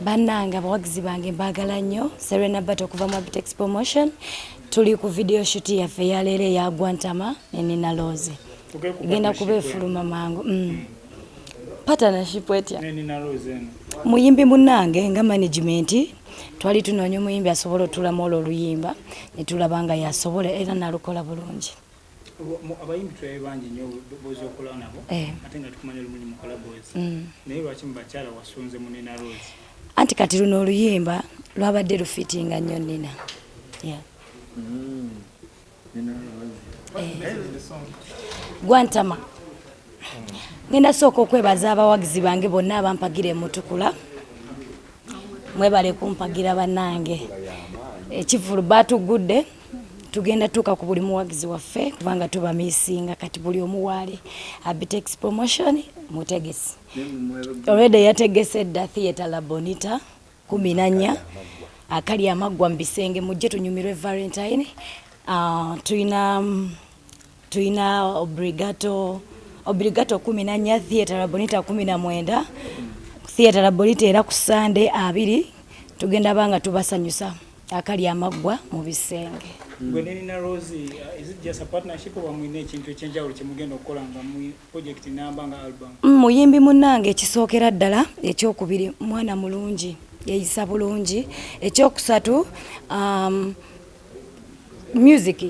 bannange abawagizi bange mbaagala nnyo serena bat okuva mu abitex promotion tuli ku video shut yaffe eyaleero eya gwantama nenina loozi genda kuba efuluma mangu mm. mm. partnership etya muyimbi munnange nga management twali tunoonya omuyimbi asobola otulamu olwo oluyimba netulaba nga yasobola era nalukola bulungi abayimbi tulabe bangi nyo bozi okola nabo eh. ate nga tukumanya olumunyi mukola bozi mm. naye lwaki mubakyala wasunze munina rose anti kati luno oluyimba lwabadde lufitinga nnyo nina mm. eh. gwantama ngenda sooka okwebaza abawagizi bange bonna abampagira emutukula mwebale kumpagira banange ekivulu batugudde tugenda tuuka ku buli muwagizi waffe kubanga tuba misinga kati buli omuwaali abitex promotion mutegesi olweda yategese edda theatre labonita kumi nanya akali amaggwa mu bisenge mujje tunyumirwe valentine uh, tulina mm, tulina obligato obligato kumi na nnya theatre labonita kumi na mwenda theatre labonita era ku sande abiri tugenda banga tubasanyusa akali amaggwa mu bisenge gwe nenina rose uh, is it just a partnership oba mulina ekintu ekyenjawulo kyemugenda okukola nga mu project namba nga album mm, muyimbi munnange ekisookera ddala ekyokubiri mwana mulungi yeyisa bulungi ekyokusatu um, music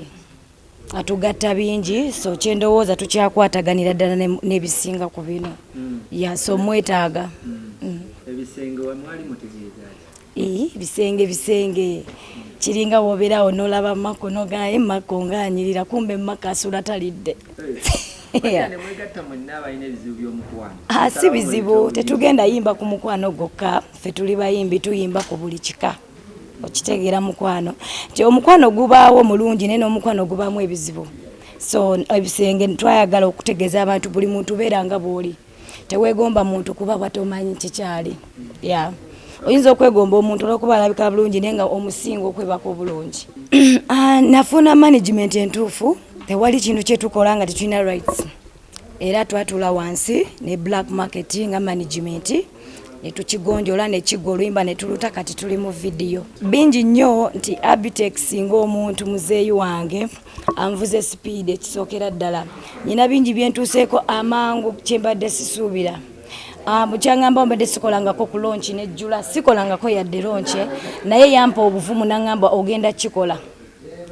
atugatta bingi so kyendowooza tukyakwataganira ddala nebisinga ku bino mm. ya so mwetaaga mm. mm. bisenge bisenge kiringa wobeerawo nolaba mako nogaye mako ngaanyirira kumbe mako asula talidde ah, si bizibu tetugenda yimba ku mukwano gwokka fe tuli bayimbi tuyimba ku buli kika okitegeera mukwano nti omukwano gubaawo mulungi naye n'omukwano gubaamu ebizibu so ebisenge twayagala okutegeeza abantu buli muntu beera nga bw'oli teweegomba muntu kuba batomanyi kikyali ya oyinza okwegomba omuntu olwokuba alabika bulungi naye nga omusinga okwebaka obulungi ah, nafuna management entuufu tewali kintu kyetukola nga tetulina rights era twatula wansi ne black market nga management netukigonjola nekigwa oluyimba netuluta kati tuli mu vidiyo bingi nnyo nti abitex ngaomuntu muzeeyi wange anvuze sipiidi ekisookera ddala nyina bingi byentuuseeko amangu kyembadde sisuubira Ah, bukyangamba ombadde sikolangako ku lonki nejjula sikolangako yadde lonki naye yampa obuvumu nangamba ogenda kikola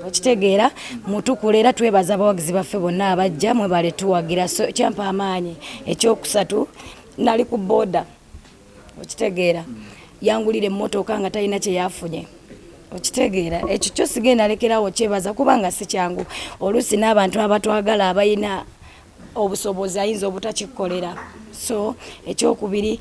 okitegeera mutukula era twebaza abawagizi baffe bonna abajja mwebale tuwagira so kyampa amaanyi ekyokusatu nali ku boda okitegeera yangulira emmotoka nga talina kyeyafunye okitegeera ekyo kyo sigenda lekerawo kyebaza kubanga si kyangu oluusi n'abantu abatwagala abalina obusobozi ayinza obutakikolera so ekyokubiri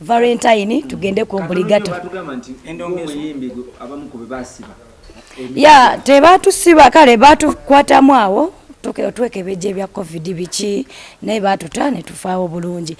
valentine tugende ku obligato ya tebatusiba kale batukwatamu awo twekebeja ebya covid biki naye batuta netufaawo bulungi